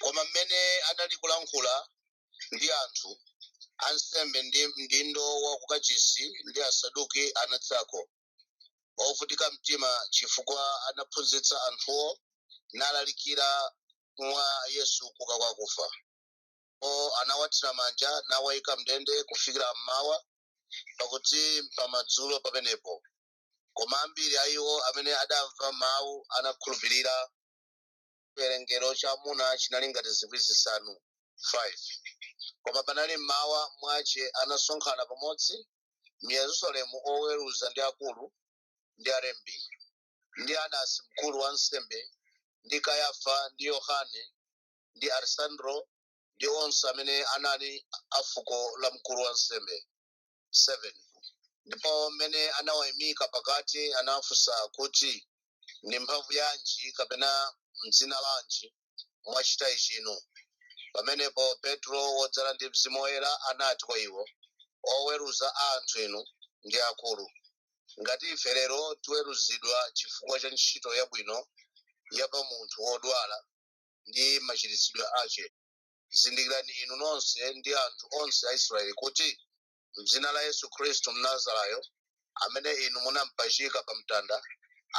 koma mmene anali kulankhula ndi anthu ansembe ndi mdindo wa kukachisi ndi asaduki anadzako ovutika mtima chifukwa anaphunzitsa anthuwo nalalikira mwa yesu kuuka kwa akufa ndipo anawathira manja nawayika mndende kufikira mmawa pakuti pamadzulo pamenepo koma ambiri a iwo amene adamva mawu anakhulupirira chiwerengero cha amuna chinali ngati zikwi zisanu 5 koma panali mmawa mwache anasonkhana pamodzi mu yerusalemu oweruza ndi akulu ndi alembi ndi anasi mkulu wa ansembe ndi kayafa ndi yohane ndi alesandro ndi onse amene anali a fuko la mkulu wa ansembe 7 ndipo mmene anawayimika pakati anafunsa kuti ndi mphamvu yanji kapena mdzina lanji mwachita ichi inu pamenepo petro wodzala ndi mzimu woyera anati kwa iwo oweruza a anthu inu ndi akulu ngati ife lero tiweruzidwa chifukwa cha ntchito yabwino ya pa munthu wodwala ndi machiritsidwe ache zindikirani inu nonse ndi anthu onse a israeli kuti mdzina la yesu khristu mnazarayo amene inu munampachika pa mtanda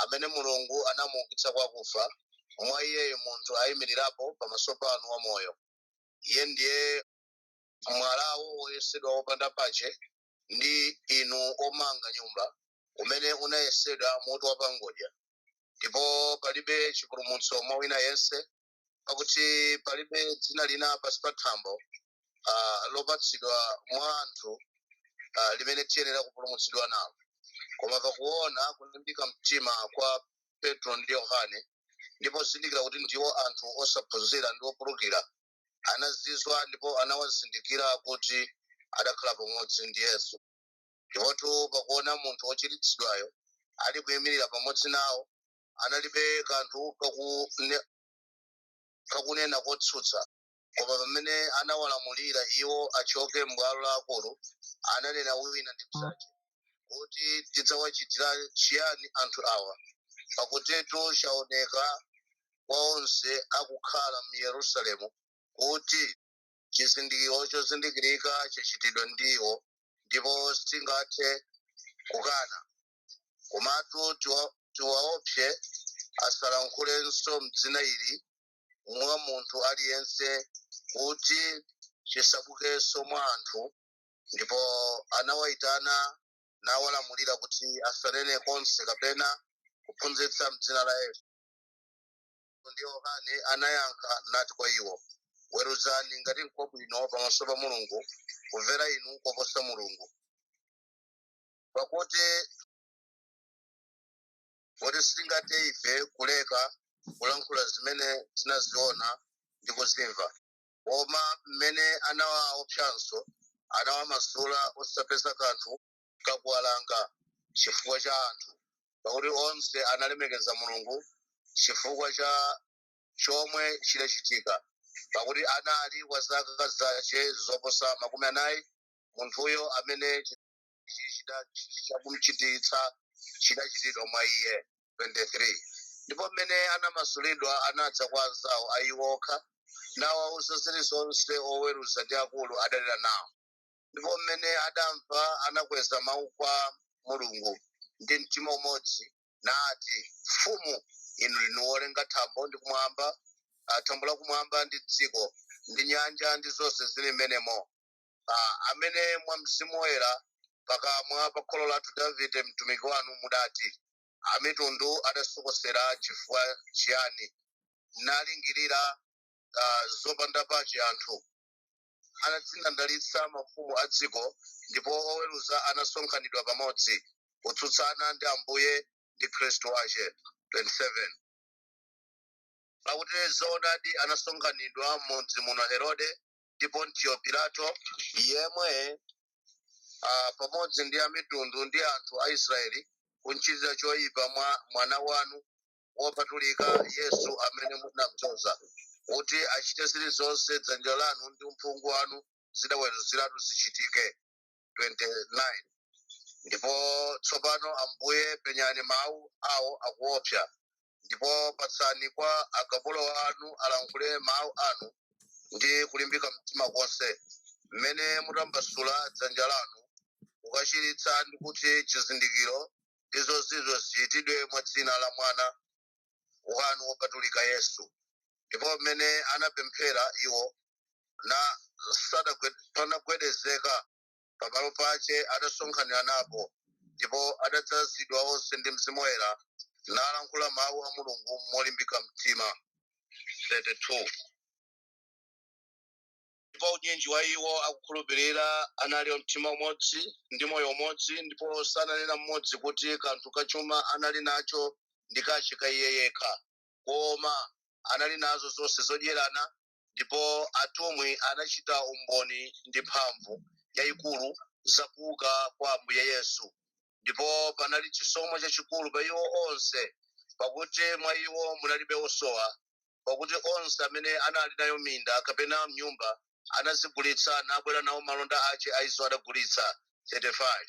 amene mulungu anamuukitsa kwa akufa mwa iyeyo munthu ayimirirapo pamaso panu wamoyo iye ndiye mwalawo woyesedwa wopanda pache ndi inu omanga nyumba umene unayesedwa mutu wa pangodya ndipo palibe chipulumutso mwa wina yense pakuti palibe dzina lina pansi pa thambo ah, lopatsidwa mwa anthu ah, limene tiyenera kupulumutsidwa nalo koma pakuona kulimbika mtima kwa petro ndi yohane ndi pozindikira kuti ndiwo anthu osaphunzira ndi opulukira anazizwa ndipo anawazindikira kuti adakhala pamodzi ndi yesu ndipotu pakuona munthu wochiritsidwayo ali kuyimirira pamodzi nawo analibe kanthu kakune- kakunena kotsutsa koma pamene anawalamulira iwo achoke m'bwalo la akulu ananena wina ndi mnzache kuti tidzawachitira chiyani anthu awa pakutitu chaoneka kwa onse akukhala mu yerusalemu kuti chizindikiro chozindikirika chachitidwa ndi iwo ndipo sitingathe kukana komatu tiwa- tiwaopse asalankhulenso mdzina ili mwa munthu aliyense kuti chisabukenso mwa anthu ndipo anawayitana nawalamulira kuti asanene konse kapena kuphunzitsa mdzina la yesu ndi yohane anayankha nati kwa iwo weruzani ngati nkwabwino pamaso pa mulungu kumvera inu koposa mulungu pakuti kuti sitingathe ife kuleka kulankhula zimene tinaziona ndi kuzimva koma mmene anawaopsanso anawamasula osapeza kanthu kakuwalanga chifukwa cha anthu pakuti onse analemekeza mulungu chifukwa cha chomwe chidachitika pakuti anali wa zaka zache zoposa makumi anayi munthuyo amene chakumchiritsa chidachitidwa mwa iye 23 ndipo mmene anamasulidwa anadza kwa anzawo a iwo okha nawawuza zilizonse oweruza ndi akulu adanena nawo ndipo mmene adamva anakweza mawu kwa mulungu ndi mtima umodzi nati mfumu inu ndinu wolenga thambo ndi kumwamba ah, thambo la kumwamba ndi dziko ndi nyanja ndi zonse zili mmenemo ah, amene mwa mzimu woyera pakamwa pa kholo lathu davide mtumiki wanu mudati amitundu adasokosera chifukwa chiyani nalingirira ah, zopanda pache anthu anadzindandalitsa mafumu a dziko ndipo oweruza anasonkhanidwa pamodzi kutsutsana ndi ambuye ndi khristu wache 27 pakuti zoonadi anasonkhanidwa mudzi muno herode ndi pontiyo pilato yemwe ah, pamodzi ndi amitundu ndi anthu a israeli kumchitira choyipa mwana wanu wopatulika yesu amene munamdzoza kuti achite zilizonse dzanja lanu ndi uphungu wanu zidaweruziratu zichitike 29 ndipo tsopano ambuye penyani mawu awo akuopsa ndipo patsani kwa akapolo anu alankhule mawu anu ndi kulimbika mtima konse mmene mutambasula dzanja lanu kukachiritsa ndi kuti chizindikiro ndi zozizwa zichitidwe mwa dzina la mwana wanu wopatulika yesu ndipo mmene anapemphera iwo na sadagwe- panagwedezeka pamalo pache adasonkhaniranapo ndipo adadzazidwa onse ndi mzimu woyera nalankhula mawu a mulungu molimbika mtima 32 ndipo unyinji wa iwo akukhulupirira anali a mtima umodzi ndi moyo umodzi ndipo sananena mmodzi kuti kanthu kachuma anali nacho ndi kace ka iye yekha koma anali nazo zonse zodyerana ndipo atumwi anachita umboni ndi mphamvu yayikulu za kuuka kwa ambuye yesu ndipo panali chisomo chachikulu pa iwo onse pakuti mwa iwo munalibe osowa pakuti onse amene anali nayo minda kapena mnyumba anazigulitsa nabwera nawo malonda ace a izo adagulitsa 35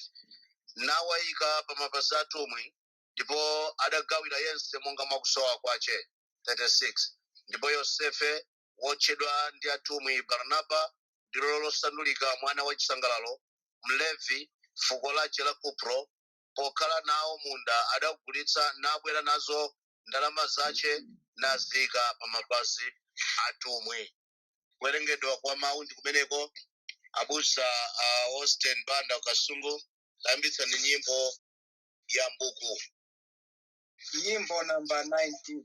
nawayika pa mapazi atumwi ndipo adagawira yense monga mwakusowa kwace 36 ndipo yosefe wotchedwa ndi atumwi barnaba ndilo losandulika mwana wa chisangalalo mlevi fuko lace la kupro pokhala nawo munda adagulitsa nabwera nazo ndalama zace naziyika pa mapazi atumwi kuwerengedwa kwa mawu ndi kumeneko abusa a austin banda kasungu tayambitsani nyimbo ya mbuku nyimbo namba 19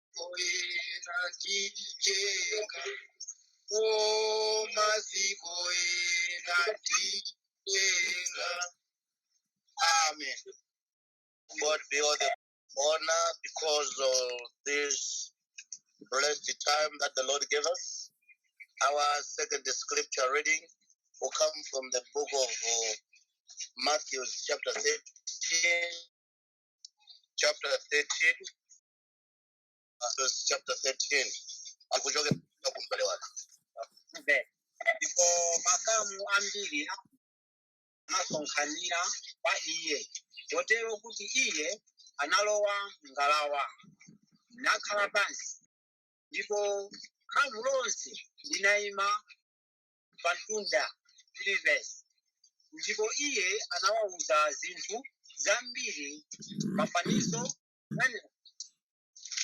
oyera ndijenga omaziko ena ndijenga amen god be all the honor because of this blessed time that the lord gave us our second scripture reading will come from the book of uh, matthew chapter 13 chapter 13 Verses chapter 13. Akuchoka kumbali wake. Amen. Ndipo makamu ambiri anasonkhanira kwa iye, kotero kuti iye analowa m'ngalawa nakhala pansi, ndipo khamu lonse linayima pa mtunda. 3 verse. Ndipo iye anawawuza zinthu zambiri m'mafanizo Amen.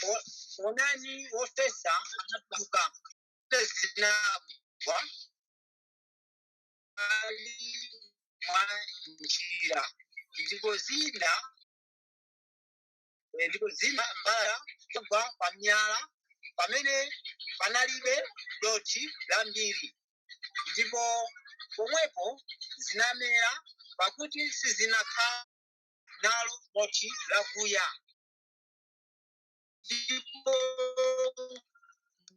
O- onani wofesa anatuluka Mfesa zinagwa m'mbali mwa njira ndipo zina eh, ndipo zina mbala kugwa pa miyala pamene panalibe dothi lambiri ndipo pomwepo zinamera pakuti sizinakhala nalo dothi lakuya ndipo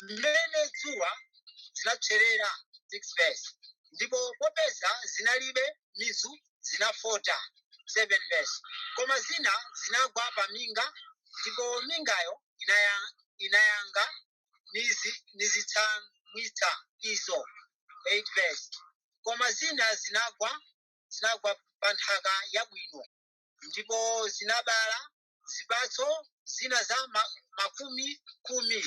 mmene dzuwa zinapserera 6 verse ndipo popeza zinalibe mizu zinafota 7 verse koma zina zinagwa pa minga ndipo mingayo inaya, inayanga nizi, nizitsamwitsa izo 8 verse koma zina zinagwa zinagwa pa nthaka yabwino ndipo zinabala zipatso zina za ma, makumi khumi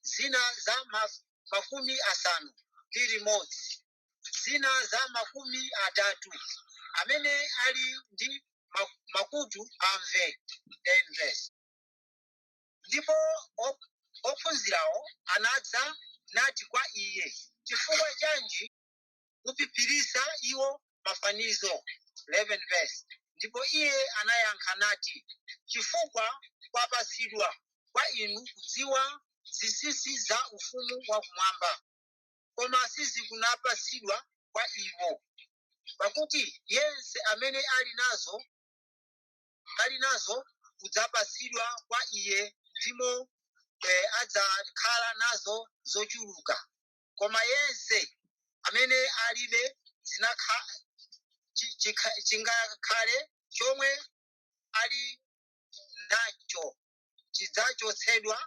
zina za ma, makumi asanu ndi limodzi zina za makumi atatu amene ali ndi ma- makutu amve 10 verse. ndipo op- ophunzirawo anadza nati kwa iye chifukwa chanji kuphiphiritsa iwo mafanizo 11 verse ndipo iye anayankha nati chifukwa kwapatsidwa kwa inu kudziwa zinsinsi za ufumu wa kumwamba koma sizikunapatsidwa kwa iwo pakuti yense amene ali nazo ali nazo kudzapatsidwa kwa iye ndipo eh, adzakhala nazo zochuluka koma yense amene alibe zinakha chi- chikha- chingakhale chomwe ali nacho chidzachotsedwa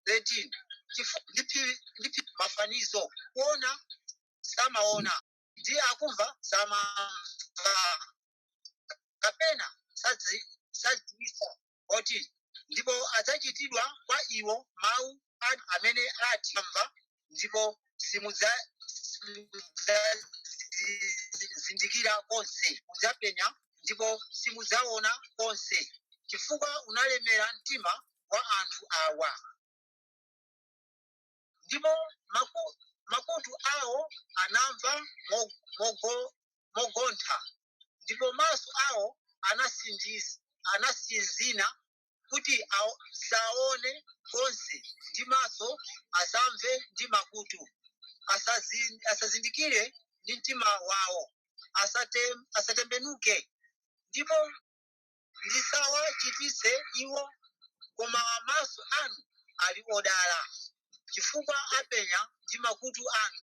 13 Chifu- ndi phi- ndi phi- mafanizo kuona samaona ndi akumva samamva kapena sadzi- sadziwisa koti ndipo adzachitidwa kwa iwo mawu anu amene ati amva ndipo simudza- simudzazindikira konse mudzapenya ndipo simudzaona konse chifukwa unalemera mtima wa anthu awa ndipo maku- makutu awo anamva mo- mogo- mogontha ndipo maso awo anatsindiz- anatsinzina kuti awo- saone konse ndi maso asamve ndi makutu Asazi- asazindikire ndi mtima wawo asate- asatembenuke ndipo ndisawachiritse iwo koma maso anu ali odala chifukwa apenya ndi makutu anu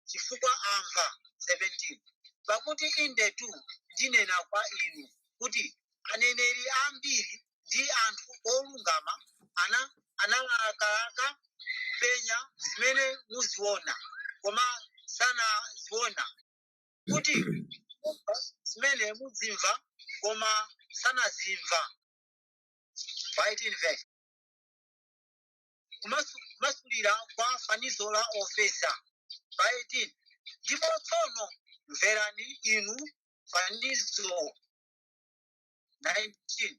chifukwa amva 17 pakuti indetu ndinena kwa inu kuti aneneri ambiri ndi anthu olungama ana analakalaka kupenya zimene muziona koma sanaziona kuti kumva zimene mudzimva koma sanazimva ya 18 verse kumasulira kwa fanizo la ofesa ya 18 ndipo tsono mverani inu fanizo 19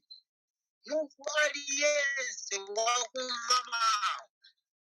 munthu aliyense wakumva mawu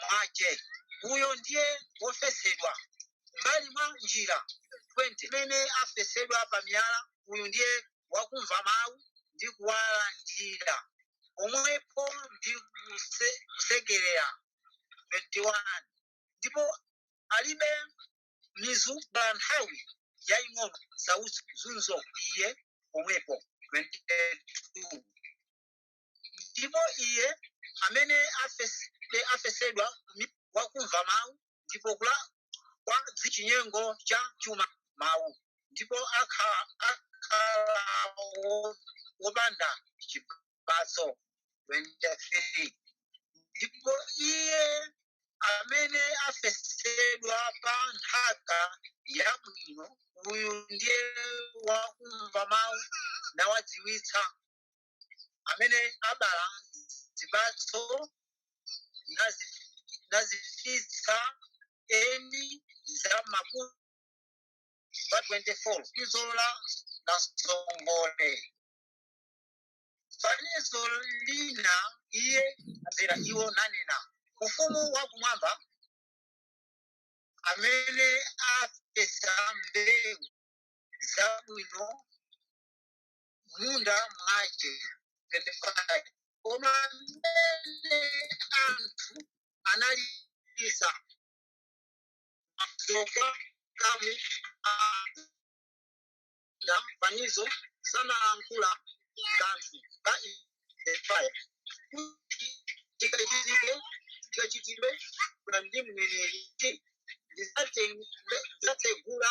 mwace uyo ndiye wofesedwa m'mbali mwa njira 20 iye amene afesedwa pa miyala uyu ndiye wakumva mawu ndi kuwalandira pomwepo ndi kuse- kusekerera 21 ndipo alibe mizu pa nthawi yaying'ono nsautso zunzo iye pomwepo 22 ndipo iye amene afes- de- afesedwa mi- wakumva mawu ndipo kula- kwa dzi- chinyengo cha chuma mawu ndipo akha- akhala wo- wopanda chipatso 23 ndipo iye amene afesedwa pa nthaka yabwino uyu ndiye wakumva mawu nawadziwitsa amene abala zipatso nazi- nazifitsa ena za makumi pa 24 izo la namsongole fanizo lina iye azira iwo nanena ufumu wa kumwamba amene afesa mbewu zabwino munda mwace 25 koma mmene anthu analisa zofa kamu na fanizo sanalankhula kanthu kwa 35 kuti chikachitike chikachitidwe kuna ndi mneneri kuti ndidzatsegula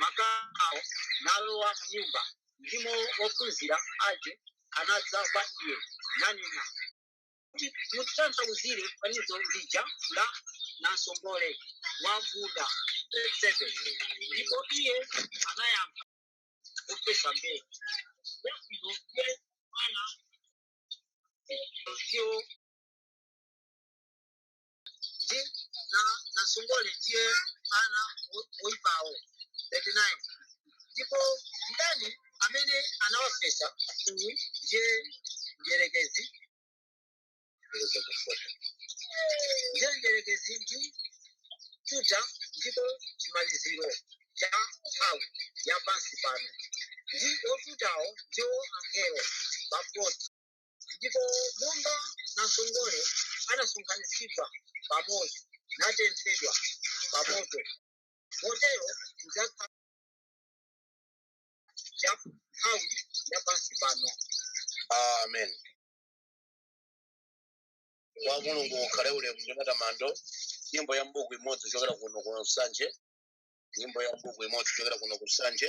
makamuwo nalowa m'nyumba ndimo ophunzira ace anadza kwa iye nanena kuti mutitanthauzire fanizo lija la namsongole wa m'munda 37 ndipo iye anayankha wofesa mbewu yabwino ndiye mwana ndiwo ndi na- namsongole ndiye ana wo- woipawo 39 ndipo mdani amene anawafesa uyu ndiye mdierekezi ndiye mdierekezi ndi kututa ndipo chimaliziro cha nthawi ya pansi pano ndi otutawo ndiwo angelo 40 ndipo monga namsongole anasonkhanitsidwa pamodzi natenthedwa pamoto motero mudzakhala cha nthawi ya pansi pano amen kwa mulungu kukhale ulemu ndi matamando nyimbo ya mbuku imodzi kuchokera kuno ku nsanje nyimbo ya mbuku imodzi kuchokera kuno ku nsanje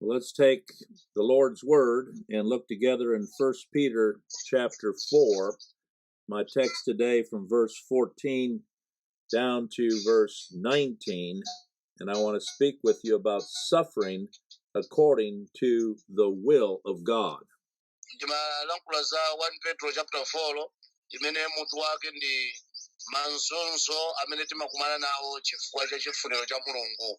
Let's take the Lord's word and look together in First Peter chapter 4. My text today from verse 14 down to verse 19, and I want to speak with you about suffering according to the will of God. ndimalankhula za 1 petro chapter 4 imene mutu wake ndi mazunzo amene timakumana nawo chifukwa cha chifuniro cha mulungu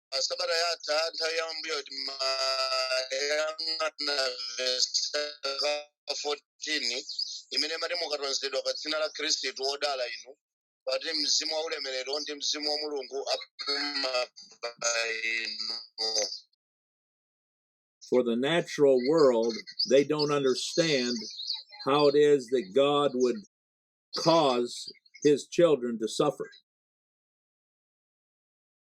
m'sabata yatha nthawi ya m'mbuyo timayang'ana vesi la 14 imene imati mukatonzedwa pa dzina la khristu wodala inu pakuti mzimu wa ulemerero ndi mzimu wa mulungu apuma pa inu for the natural world, they don't understand how it is that God would cause his children to suffer.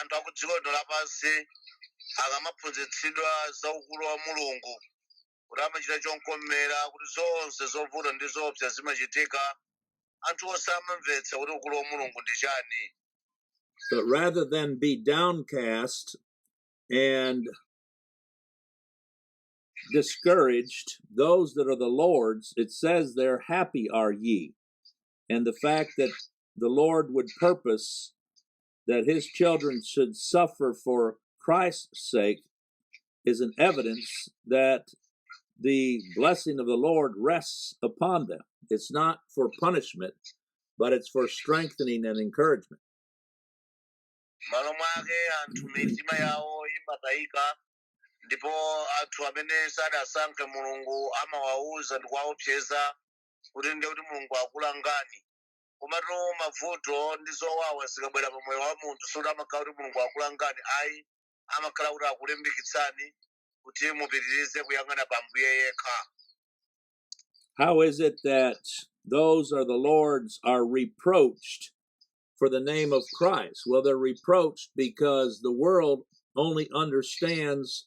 anthu a ku dziko lino lapansi akamaphunzitsidwa za ukulu wa mulungu kuti amachita chomkomera kuti zonse zovuta ndi zoopsa zimachitika anthu onse amamvetsa kuti ukulu wa mulungu ndi chani But rather than be downcast and discouraged, those that are the Lord's, it says there, happy are ye. And the fact that the Lord would purpose that his children should suffer for Christ's sake is an evidence that the blessing of the Lord rests upon them. It's not for punishment, but it's for strengthening and encouragement. malo mwake anthu mitima yawo imatayika ndipo anthu amene sadasankhe mulungu amawauza ndi kuwaopseza kuti ndiye kuti mulungu akulangani komatu mavuto ndi zowawa zikabwera pa moyo wa munthu sikuti amakhala kuti mulungu akulangani ayi amakhala kuti akulimbikitsani kuti mupitirize kuyang'ana pa mbuye yekha How is it that those are the Lord's are reproached for the name of Christ? Well, they're reproached because the world only understands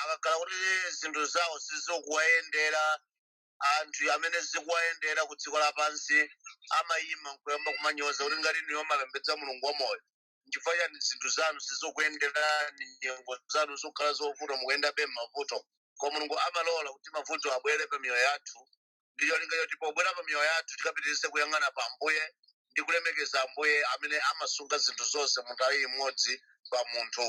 akakhala kuti zinthu zawo sizikuwayendera anthu amene zikuwayendera ku dziko lapansi amayima nkuyamba kumanyoza kuti ngati inuyo mumapembedza mulungu wamoyo nchifukwa chani zinthu zanu sizikukuyenderani nyengo zanu zokhala zovuta mukuyendabe m'mavuto koma mulungu amalola kuti mavuto abwere pa miyoyo yathu ndi cholinga choti pobwera pa miyoyo yathu tikapitirize kuyang'ana pa ambuye ndi kulemekeza ambuye amene amasunga zinthu zonse mu nthawi imodzi pa munthu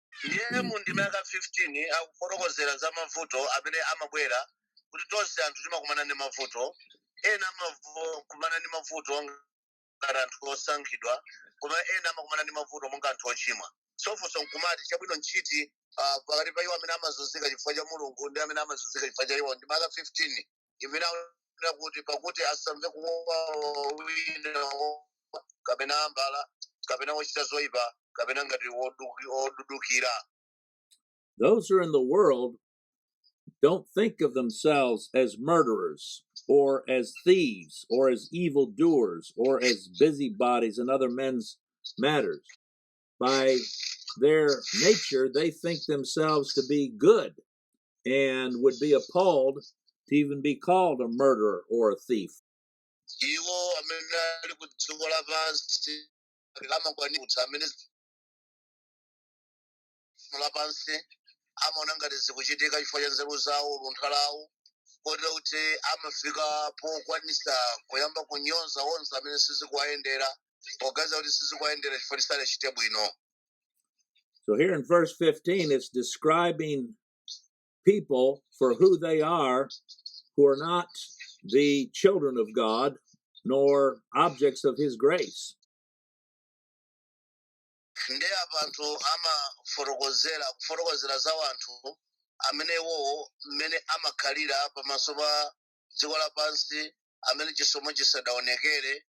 ndiye mu ndime ya ka 15 akufotokozera za mavuto amene amabwera kuti tonse anthu timakumana ndi mavuto ena amakumana ndi mavuto ngati anthu osankhidwa koma ena amakumana ndi mavuto monga anthu ochimwa so funso nkumati chabwino nchiti ah, pakati pa iwo amene amazunzika chifukwa cha mulungu ndi amene amazunzika chifukwa cha iwo ndime ya ka 15 imene akunena kuti pakuti asamve kuwawa wina wo- kapena mbala kapena wochita zoyipa kapena ngati wodu- wodudukira Those who are in the world don't think of themselves as murderers or as thieves or as evildoers or as busybodies in other men's matters. By their nature, they think themselves to be good and would be appalled to even be called a murderer or a thief. iwo amene ali ku dziko lapansi amakwanitsa amene dziko lapansi amaona ngati zikuchitika chifukwa cha nzeru zawo luntha lawo kotero kuti amafika pokwanisa kuyamba kunyoza onse amene sizikuwayendera poganiza kuti sizikuwayendera chifukwa choti sadachite bwino So here in verse 15, it's describing people for who they are who are not the children of God nor objects of his grace. ndi apa anthu amafotokozera kufotokozera za anthu amene iwowo mmene amakhalira pamaso pa dziko lapansi amene chisomo chisadaonekere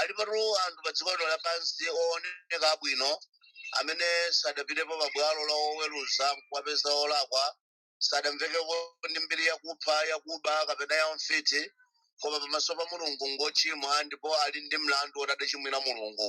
alipatu anthu pa dziko lino lapansi ooneka abwino amene sadapitepo pa bwalo la oweruza nkuwapeza olakwa sadamvekeko ndi mbiri yakupha yakuba kapena ya mfiti koma pamaso pa mulungu ngochimwa ndipo ali ndi mlandu woti adachimwira mulungu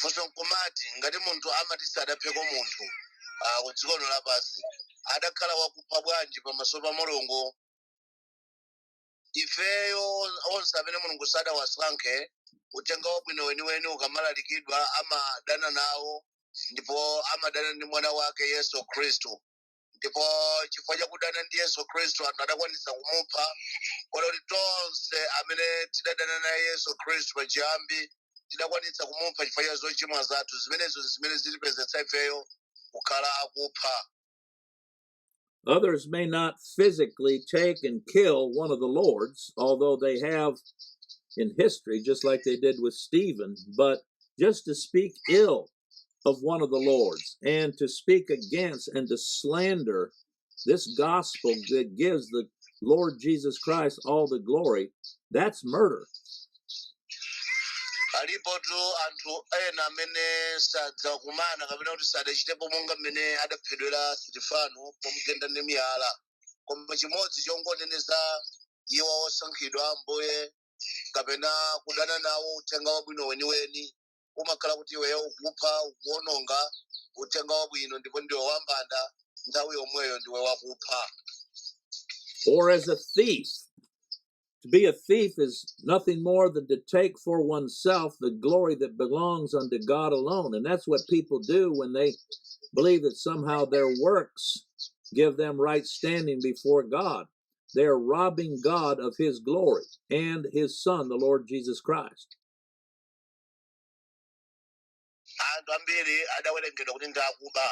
funso nkumati ngati munthu amene sadapheko munthu ah, ku dziko lino lapansi adakhala wakupha bwanji pamaso pa mulungu ifeyo onse amene mulungu sadawasankhe uthenga wabwino weniweni ukamalalikidwa amadana nawo ndipo amadana ndi mwana wake yesu khristu ndipo chifukwa chakudana ndi yesu khristu anthu adakwanisa kumupha kotero kuti tonse amene tidadana naye yesu khristu pachiyambi tidakwanitsa kumupha chifukwa cha zochimwa zathu zimenezo ndi zimene zitipezetsa ifeyo kukhala okupha Others may not physically take and kill one of the Lords, although they have in history, just like they did with Stephen, but just to speak ill of one of the Lord's and to speak against and to slander this gospel that gives the Lord Jesus Christ all the glory, that's murder. alipotu anthu ena amene sadzakumana kapena kuti sadachitepo monga mmene adaphedwera sitifano pomugenda ndi miyala koma chimodzi chongoneneza iwo osankhidwa a ambuye kapena kudana nawo uthenga wabwino weniweni umakhala kuti iweyo ukupha ukuwononga uthenga wabwino ndipo ndiwe wambanda nthawi yomweyo ndiwe wakupha or as a thief. To be a thief is nothing more than to take for oneself the glory that belongs unto God alone. And that's what people do when they believe that somehow their works give them right standing before God. They are robbing God of his glory and his Son, the Lord Jesus Christ. anthu ambiri adawerengedwa kuti ndi akuba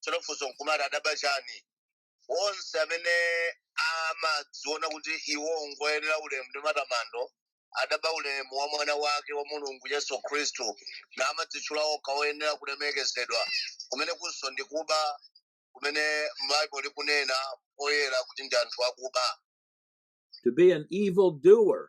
tsono funso nkumati adaba chani onse amene amadziona kuti iwo ngoyenera ulemu ndi matamando adaba ulemu wa mwana wake wa mulungu yesu khristu namadzitchula okha oyenera kulemekezedwa kumene kunso ndi kuba kumene baibulo likunena poyera kuti ndi anthu akuba to be an evil doer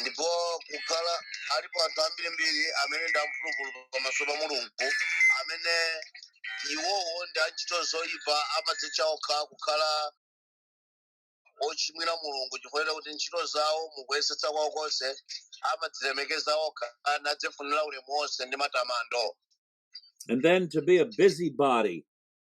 ndipo kukhala alipo anthu ambirimbiri amene ndi amphulupulu pamaso pa mulungu amene iwowo ndi a ntchito zoyipa amadzitcha okha kukhala ochimwira mulungu chifukwa cha kuti ntchito zawo m'kuyesetsa kwawo konse amadzilemekeza okha nadzifunira ulemu wonse ndi matamando And then to be a busybody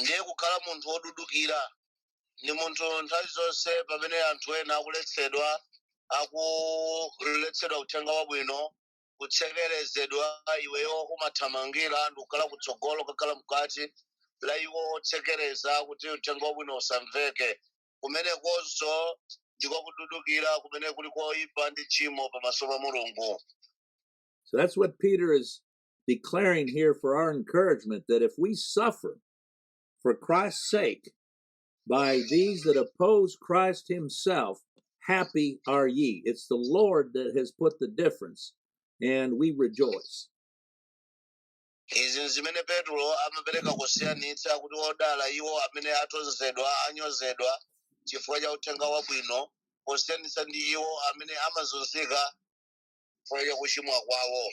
ndiye kukhala munthu wodudukira ndi munthu nthawi zonse pamene anthu ena akuletsedwa akuletsedwa uthenga wabwino kutsekerezedwa iweyo umathamangira ndi kukhala kutsogolo kukhala m'kati mwa iwo otsekereza kuti uthenga wabwino usamveke kumenekonso ndiko kududukira kumene kuli koipa ndi tchimo pamaso pa mulungu So that's what Peter is declaring here for our encouragement that if we suffer for Christ's sake by these that oppose Christ himself, happy are ye. It's the Lord that has put the difference, and we rejoice. izi nzimene petro amapereka kusiyanitsa kuti odala iwo amene atonzedwa anyozedwa chifukwa cha uthenga wabwino posiyanitsa ndi iwo amene amazunzika chifukwa cha kuchimwa kwawo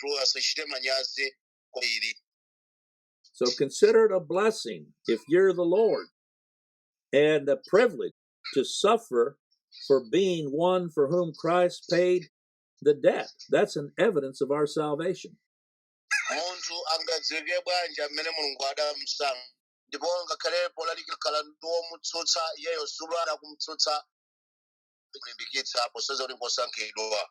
tu asachite manyazi koma So consider it a blessing if you're the Lord's and a privilege to suffer for being one for whom Christ paid the debt. That's an evidence of our salvation. munthu angadziwike bwanji amene mulungu adamsankha ndipo ngakhale polalikira akhala ndi omutsutsa iyeyo sulo adakumtsutsa kulimbikitsa posonyeza kuti ngosankhidwa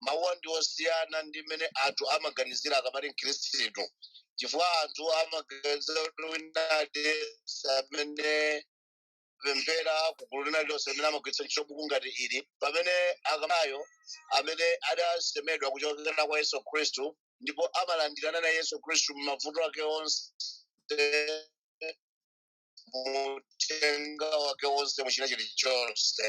mawuwa ndi osiyana ndi mmene anthu amaganizira akamati mkhristu chifukwa anthu amaganizira kuti wina aliyense amene amapemphera kugulu lina lilonse amene amagwiritsa ntchito buku ngati ili pamene akamayo amene adasemedwa kuchokera kwa yesu khristu ndipo amalandirana na yesu khristu m'mavuto ake onse muthenga wake wonse mu china chilichonse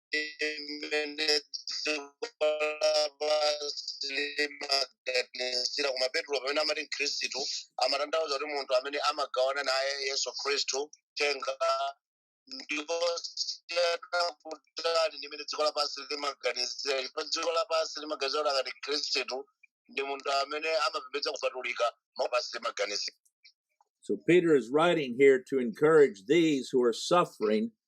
sira koma petro pamene amati mkhristu amatanthauza kuti munthu amene amagawana naye yesu khristu uthenga ndipo zisiyana kutali ndi mmene dziko lapansi limaganizira ndipo dziko lapansi limaganizira kuti akati mkhristu ndi munthu amene amapembedza kupatulika pansi limaganizira So Peter is writing here to encourage these who are suffering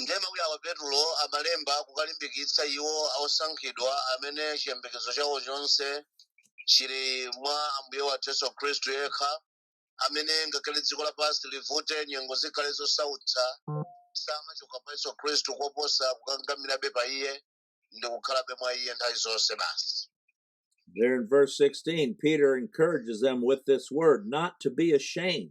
ndiye mawu awa petulo amalemba kukalimbikitsa iwo osankhidwa amene chiyembekezo chawo chonse chili mwa ambuye wathu yesu khristu yekha amene ngakhale dziko lapansi livute nyengo zikhale zosautsa samachoka pa yesu khristu koposa kukangamirabe pa iye ndi kukhalabe mwa iye nthawi zonse basi There in verse 16, Peter encourages them with this word not to be ashamed.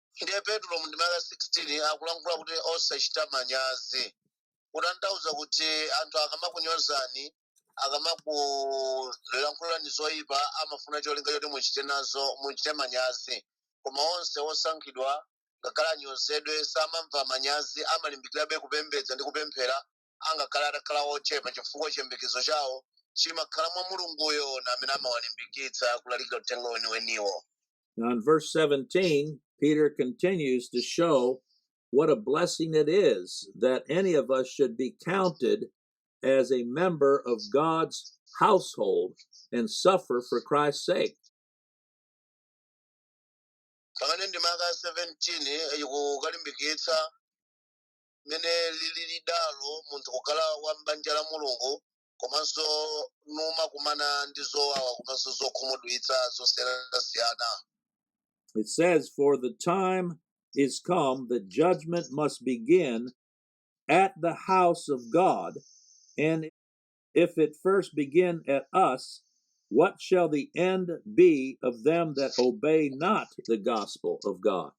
ndiye petulo mu ndime ya 16 akulankhula kuti osachita manyazi kutanthauza kuti anthu akamakunyozani akamakulankhulani zoyipa amafuna cholinga choti muchite nazo muchite manyazi koma onse osankhidwa ngakhale anyozedwe samamva manyazi amalimbikirabe kupembedza ndi kupemphera angakhale atakhala ochepa chifukwa chiyembekezo chawo chimakhala mwa mulunguyo ndi amene amawalimbikitsa kulalikira uthenga weniweniwo Now, in verse 17, Peter continues to show what a blessing it is that any of us should be counted as a member of God's household and suffer for Christ's sake. pamene ndime ya 17 ikukalimbikitsa mmene lilili dalo munthu kukhala wa m'banja la mulungu komanso numakumana ndi zowawa komanso zokhumudwitsa zosiyanasiyana It says, For the time is come that judgment must begin at the house of God. And if it first begin at us, what shall the end be of them that obey not the gospel of God?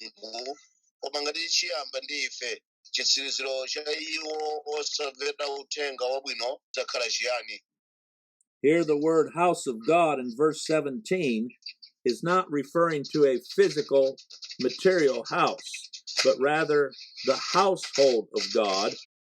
inu koma ngati chiyamba ndi ife chitsiriziro cha iwo osamvera uthenga wabwino chidzakhala chiyani Here, the word house of God in verse 17 is not referring to a physical, material house, but rather the household of God,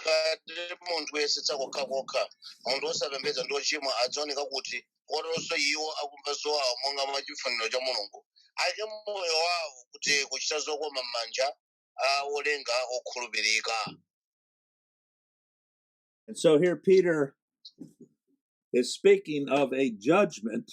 ngati munthu oyesetsa kokhakokha munthu osapembedza ndi ochimwa adzaoneka kuti koteronso iwo akumva zowawa monga mwa chifuniro cha mulungu aike moyo wawo kuti kuchita zokoma m'manja a olenga okhulupirika And so here Peter is speaking of a judgment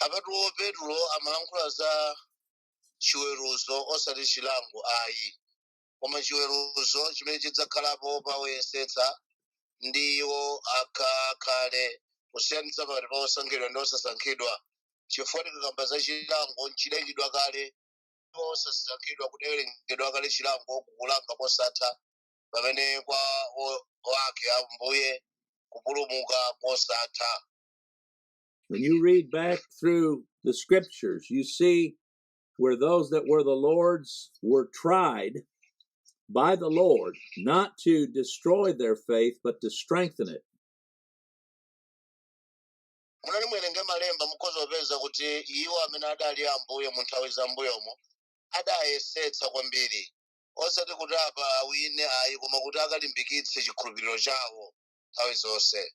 apatu petulo amalankhula za chiweruzo osati chilango ayi koma chiweruzo chimene chidzakhalapo pa oyesetsa ndi iwo akakhale kusiyanitsa pakati pa osankhidwa ndi osasankhidwa chifukwa tikakamba za chilango chidayikidwa kale ndipo osasankhidwa kudawerengedwa kale chilango kukulanga kosatha pamene kwa o- wake ambuye kupulumuka kosatha When you read back through the scriptures, you see where those that were the Lord's were tried by the Lord, not to destroy their faith, but to strengthen it. mutati muwerenge malemba mukhoza kupeza kuti iwo amene adali a ambuye mu nthawi za mbuyomo adayesetsa kwambiri osati kuti apa awine ayi koma kuti akalimbikitse chikhulupiriro chawo nthawi zonse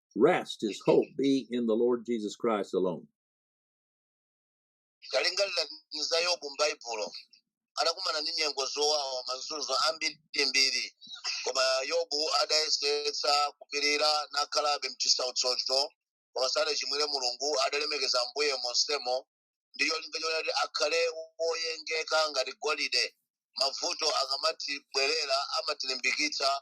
rest, his hope be in the Lord Jesus Christ alone. talingalirani za yobu m'baibulo adakumana ndi nyengo zowawa mazunzo ambirimbiri koma yobu adayesetsa kupirira nakhalabe mchisautsocho koma sadachimwire mulungu adalemekeza ambuye monsemo ndi cholinga choti akhale woyengeka ngati golide mavuto akamatibwerera amatilimbikitsa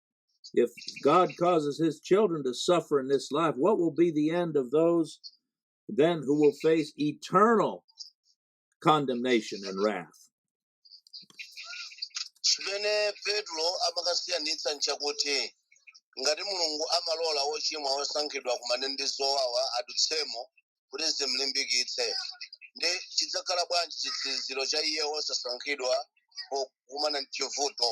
If God causes his children to suffer in this life, what will be the end of those then who will face eternal condemnation and wrath? chimene petro amakasiyanitsa nchakuti ngati mulungu amalola wochimwa wosankhidwa akumane ndi zowawa adutsemo kuti zimlimbikitse ndi chidzakhala bwanji chitsiriziro cha iye wosasankhidwa pokumana ndi chivuto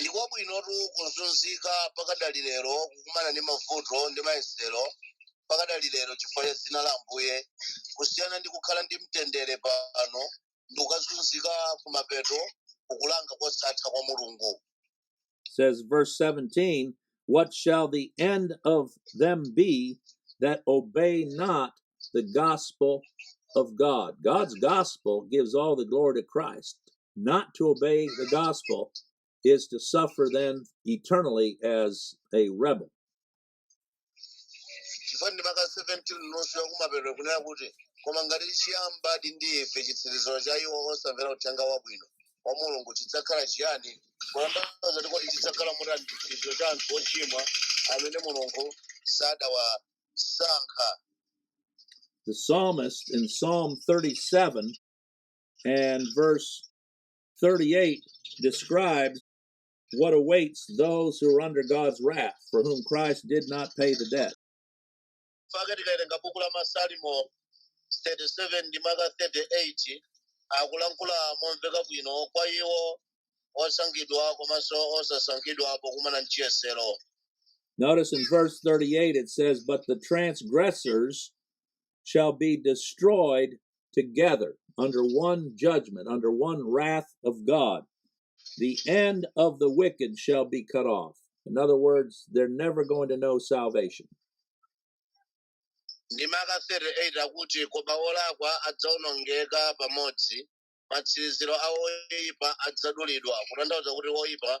ndiko bwinotu kuzunzika pakadali lero kukumana ndi mavuto ndi mayesero pakadali lero chifukwa cha dzina la ambuye kusiyana ndi kukhala ndi mtendere pano ndi kukazunzika kumapeto kukulanga kosatha kwa mulungu says verse 17 what shall the end of them be that obey not the gospel of god god's gospel gives all the glory to christ not to obey the gospel is to suffer then eternally as a rebel. chifukwa ndime ya 17 nusu yakumapeto kunena kuti koma ngati chiyamba ndi ife chitsiriziro cha iwo osamvera uthenga wabwino wa mulungu chidzakhala chiyani kutanthauza kuti kodi chidzakhala motani chitsiriziro cha anthu ochimwa amene mulungu sadawasankha The psalmist in Psalm 37 And verse 38 describes what awaits those who are under God's wrath, for whom Christ did not pay the debt. chake tikawerenga buku la masalimo 37 ndime ya 38 akulankhula momveka bwino kwa iwo osankhidwa komanso osasankhidwa pokumana ndi chiyesero Notice in verse 38 it says, But the transgressors shall be destroyed together under one judgment, under one wrath of God. The end of the wicked shall be cut off. In other words, they're never going to know salvation. ndime ya 38 akuti koma olakwa adzaonongeka pamodzi matsiriziro a oyipa adzadulidwa kutanthauza kuti oyipa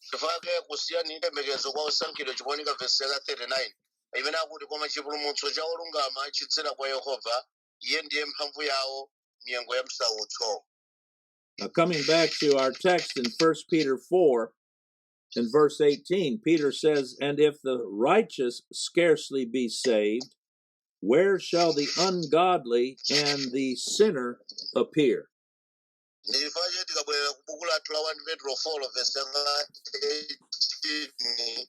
chifukwa chake kusiyanitsa chiyembekezo kwa osankhidwa chikuoneka vesi ya 39 imene akuti koma chipulumutso cha olungama chidzera kwa yehova iye ndiye mphamvu yawo m'nyengo ya msautso Now, coming back to our text in 1 Peter 4 and verse 18, Peter says, And if the righteous scarcely be saved, where shall the ungodly and the sinner appear? ndichifukwa choti tikabwerera ku buku lathu la 1 petro 4 vesi yake ya 18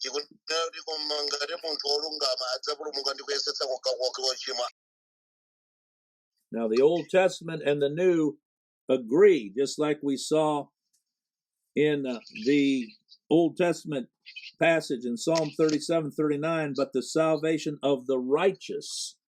ikunena kuti koma ngati munthu wolungama adzapulumuka ndi kuyesetsa kokha kwake wochimwa Now, the Old Testament and the New agree, just like we saw in uh, the Old Testament passage in Psalm 37 39, but the salvation of the righteous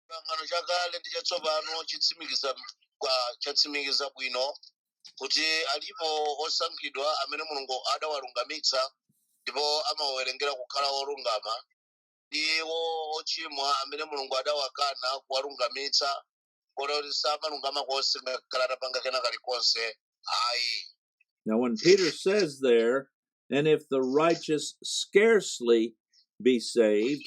chipangano chakale ndi chatsopano chitsimikiza chatsimikiza bwino kuti alimo osankhidwa amene mulungu adawalungamitsa ndipo amawawerengera kukhala olungama ndi ochimwa amene mulungu adawakana kuwalungamitsa kota kuti samalungama konse ngakhale atapanga kena kalikonse ayi Now, when Peter says there, and if the righteous scarcely be saved,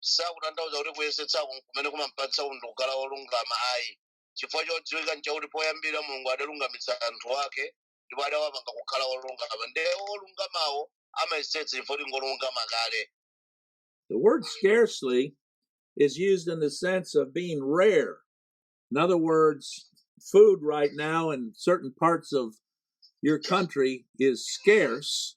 sakutanthauza kuti kuyesetsa ku- kumene kumampangitsa munthu kukhala wolungama ayi chifukwa chodziwika nchakuti poyambirira mulungu adalungamitsa anthu ake ndipo adawapanga kukhala wolungama ndiye wolungamawo amayesetsa chifukwa choti ngolungama kale The word scarcely is used in the sense of being rare. In other words, food right now in certain parts of your country is scarce,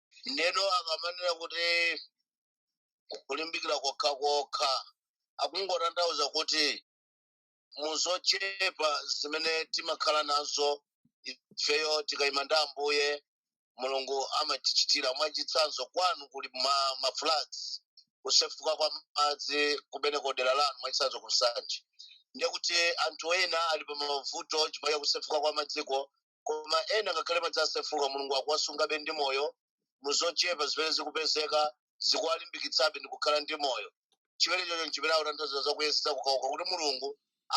ndeno akamanena kuti kulimbikira kokha kokha akungotanthauza kuti muzochepa zimene timakhala nazo ifeyo tikayima ndi ambuye mulungu amatichitira mwachitsanzo kwanu kuli ma, ma floods kusefuka kwa madzi kumene ku dera lanu mwachitsanzo ku nsanje ndiye kuti anthu ena ali pa mavuto chifukwa cha kusefuka kwa madziko koma ena ngakhale madzi asefuka mulungu akuwasungabe ndi moyo muzochepa zimene zikupezeka zikuwalimbikitsabe ndi kukhala ndi moyo chimenechocho nchimene akutanthauza za kuyesetsa kokhakokha kuti mulungu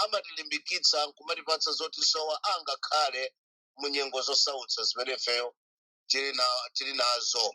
amatilimbikitsa nkumatipatsa zotisowa angakhale mu nyengo zosautsa zimene ifeyo tili na- tili nazo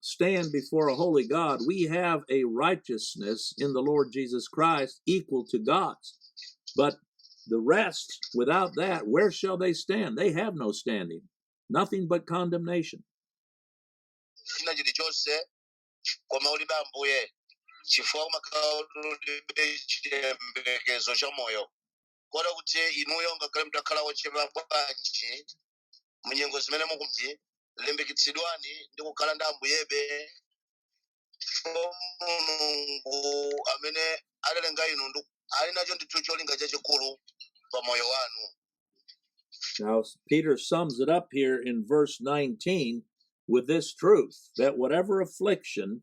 stand before a holy God, we have a righteousness in the Lord Jesus Christ equal to God's. But the rest, without that, where shall they stand? They have no standing, nothing but condemnation. china chilichonse koma ulibe ambuye chifukwa umakhala woti ulibe chiyembekezo cha moyo kota kuti inuyo ngakhale mutakhala wolemera bwanji munyengo zimene mulizi limbikitsidwani ndi kukhala ndi ambuyebe chifukwa mulungu amene adalenga inuyo ali nacho ndithu cholinga chachikulu pa moyo wanu Now, Peter sums it up here in verse 19 with this truth that whatever affliction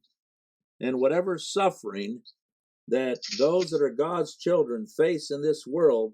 and whatever suffering that those that are God's children face in this world,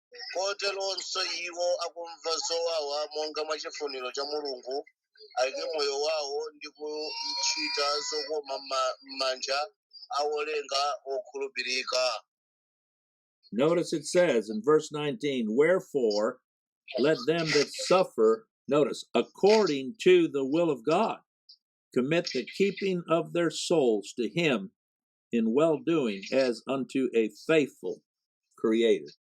koteronso iwo akumva zowawa monga mwa chifuniro cha mulungu aike moyo wawo ndi kuchita zokoma mma- m'manja a wolenga wokhulupirika Notice it says in verse 19, Wherefore let them that suffer, notice, according to the will of God, commit the keeping of their souls to Him in well doing as unto a faithful creator.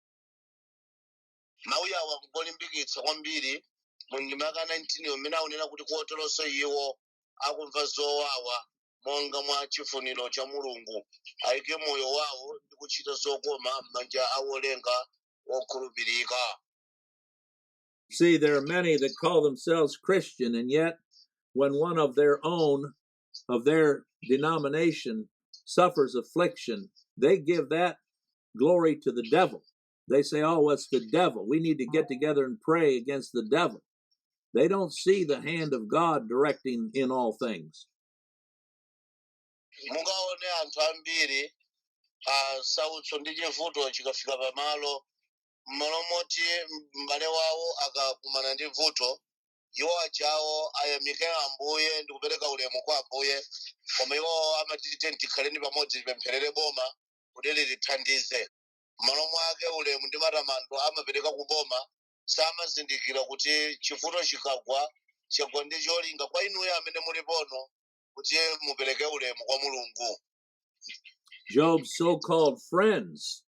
mawu awa akulimbikitsa kwambiri mu ndima ya 19 yo mmene akunena kuti koteronso iwo akumva zowawa monga mwa chifuniro cha mulungu ayike moyo wawo ndi kuchita zokoma m'manja a wolenga wokhulupirika See, there are many that call themselves Christian, and yet when one of their own of their denomination suffers affliction, they give that glory to the devil. They say, oh, it's the devil. We need to get together and pray against the devil. They don't see the hand of God directing in all things. mungaone anthu ambiri masautso ndi chivuto chikafika pamalo mmalo moti m'bale wawo akakumana ndi vuto iwo ajawo ayamike ambuye ndi kupereka ulemu kwa ambuye koma iwo amati tiyeni tikhaleni pamodzi tipempherere boma kuti litithandize m'malo mwake ulemu ndi matamando amapereka ku boma samazindikira kuti chivuto chikagwa chagwa ndi cholinga kwa inuyo amene mulipono kuti mupereke ulemu kwa mulungu Job's so called friends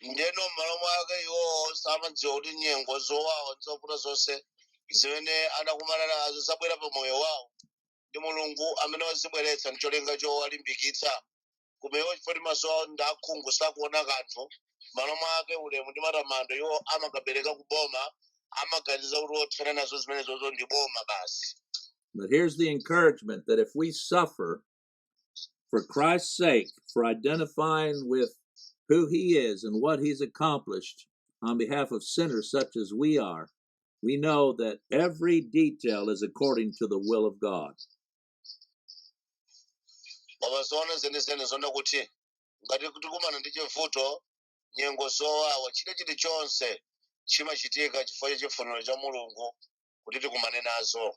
ndeno mmalo mwake iwowo samadziwa kuti nyengo zowawa zovuta zonse zimene anakumana nazo zabwera pa moyo wawo ndi mulungu amene wazibweretsa ncholinga chowalimbikitsa koma iwo chifukwa choti maso awo ndi akhungu sakuona kanthu mmalo mwake ulemu ndi matamando iwo amakapereka ku boma amaganiza kuti othana nazo zimenezozo ndi boma basi But here's the encouragement that if we suffer for Christ's sake, for identifying with who he is and what he's accomplished on behalf of sinners such as we are, we know that every detail is according to the will of God. koma zoona zenizeni nzonena kuti ngati tikumana ndi chivuto nyengo zowawa china chilichonse chimachitika chifukwa cha chifuniro cha mulungu kuti tikumane nazo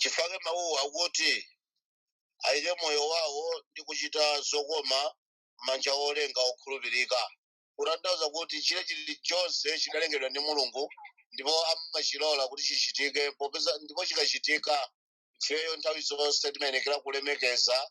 chifukwa mawuwo akuti ayike moyo wawo ndi kuchita zokoma m'manja a wolenga wokhulupirika kutanthauza kuti chili chilichonse chinalengedwa ndi mulungu ndipo amachilola kuti chichitike popeza ndipo chikachitika ifeyo nthawi zonse timayenekera kulemekeza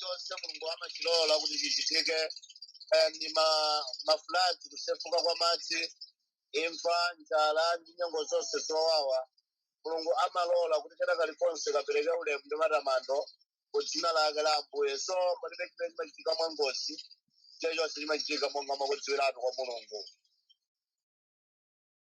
chonse mulungu amachilola kuti chichitike eh, ndi ma- mafulati kusefuka kwa madzi imfa njala ndi nyengo zonse zowawa mulungu amalola kuti kena kalikonse kapereke ulemu ndi matamando ku dzina lake la ambuye so palibe chimene chimachitika mwa ngozi chilichonse chimachitika monga mwakudziwiratu kwa mulungu